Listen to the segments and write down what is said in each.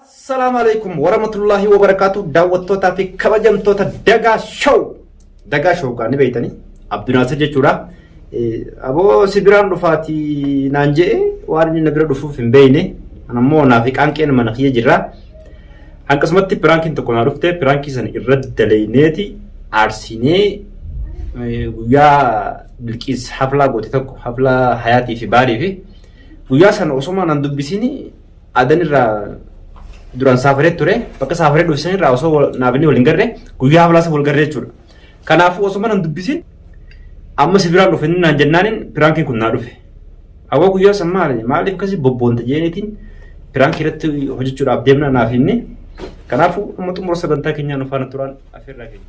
Assalaamu alaikum warahmatullahi wabarakatuh daawwattootaa fi kabajamtoota Dagaa Show. Dagaa Show kaa ni beektanii Abdu Naasir jechuudha. Aboo si biraan dhufaati naan je'e waan inni na bira dhufuuf hin beekne. An ammoo naaf qaanqeen mana kiyya jirra. Akkasumatti piraankiin tokko naa dhufte piraankii sana irra daleyneeti aarsinee guyyaa bilqiis haflaa goote tokko haflaa hayaatii fi baalii fi guyyaa sana osoo nan dubbisiin Adan irraa duraan saafaree ture bakka saafaree dhufe san irraa osoo naabinni waliin garre guyyaa haflaasa wal garree jechuudha. Kanaafuu osoo mana hin dubbisin amma si biraan dhufe naan jennaaniin piraankii kun naa dhufe. Hawwa guyyaa san maali maaliif akkasii bobboonta jeeniitiin piraankii irratti hojjechuudhaaf deemna naaf inni. Kanaafuu amma xumura sagantaa keenyaa nu faana turaan afeerraa keenya.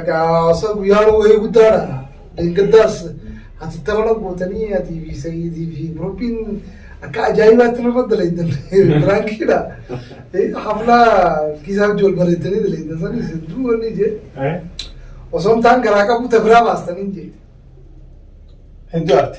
Egaa hawaasa guyyaa wayii guddaadha. Deeggardaas ati tapha gootanii ati fi Sa'iidii fi Biroopiin akka ajaa'ibaatti nama dalaydan biraankiidha. Haflaa kiisaa wajjin wal bareedanii dalaydan sanis hedduu wanni jee osoo hin taan garaa qabu tabiraa baastanii jee. Hedduu arte.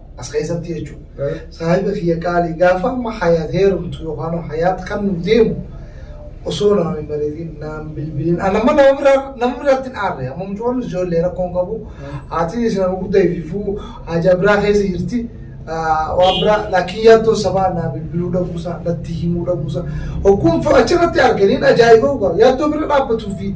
As keessatti jechuudha. Saahiba kiyya qaalii gaafa amma hayaat heerumtu yookaan hayaat kan nu deemu osoo naan hin mariitiin naan bilbiliin an amma nama biraa nama biraatti hin aarre amma mucoon ijoollee rakkoo hin qabu haatiin isin amma guddaa ififuu haajaa biraa keessa jirti waan biraa laakiin yaaddoo sabaa naa bilbiluu dhabuusaa natti himuu dhabuusaa hogguun achirratti arganiin ajaa'ibaa yaaddoo bira dhaabbatuu fi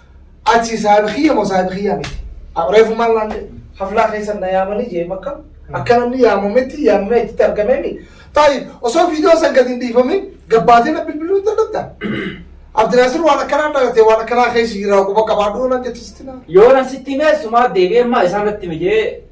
Ati saahiba kiyya moo saahiba kiyyaa miti? Reefu maal naan jedhe? Haflaa keessan na yaamanii jee makka akka namni yaamametti yaamamee achitti argameemi. Taayib osoo viidiyoo san gadi hin dhiifamin gabbaatee na bilbiluu hin danda'ta. Abdinaasir waan akkanaa dhalatee waan akkanaa keessa jiraa quba qabaadhuu naan jettisitti naa. Yoona sitti himee sumaa deebi'ee maa isaa natti himi jee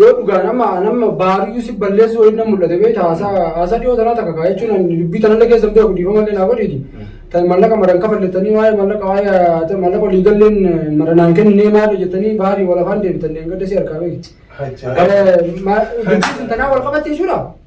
Yoo dhugaan amma an amma baariyyuu si balleessuu wayii na mul'ate beekta haasaa haasaa dhiyoo tanaa takka kaa jechuun ani dubbii tanallee keessa hin beeku dhiifama illee naa godhiiti. Tan mallaqa maran kafallettanii waa'ee mallaqa waa'ee mallaqa olii galleen maranaan kennee maali jettanii baarii walafaan deebitan deemgadda si harkaa beekti. Hajjaa. Dubbii sun tanaa wal qabatte jechuudha.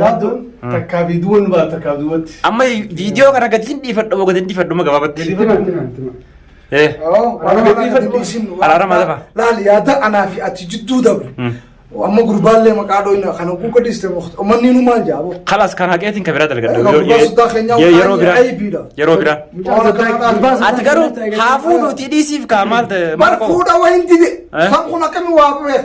Yaaddoon takkaa fi duwwan baala takkaa duwwatti. Amma viidiyoo kana gadi hin dhiifadhu moo gadi hin dhiifadhu moo gabaabatti? Gadi Tima, tima, tima. Eh. Araarama lafa. Laal yaada anaa fi ati jidduu dabre. Mm. Amma gurbaallee maqaa dhooyna kana kuuka dhiste manni nu maal jaabo. Kalas kan haqeetiin kan biraa dalgadha. Egaa gurbaa soddaa keenyaa Ye- Yeroo biraa. waan aybiidha. Yeroo biraa. Waan akkanaa dhaabaa. Ati garuu haafuu nuti dhiisiif kaa maal ta'e Bar maal koo? fuudha wayin dide. Eh? Kan kun akkami waa beek.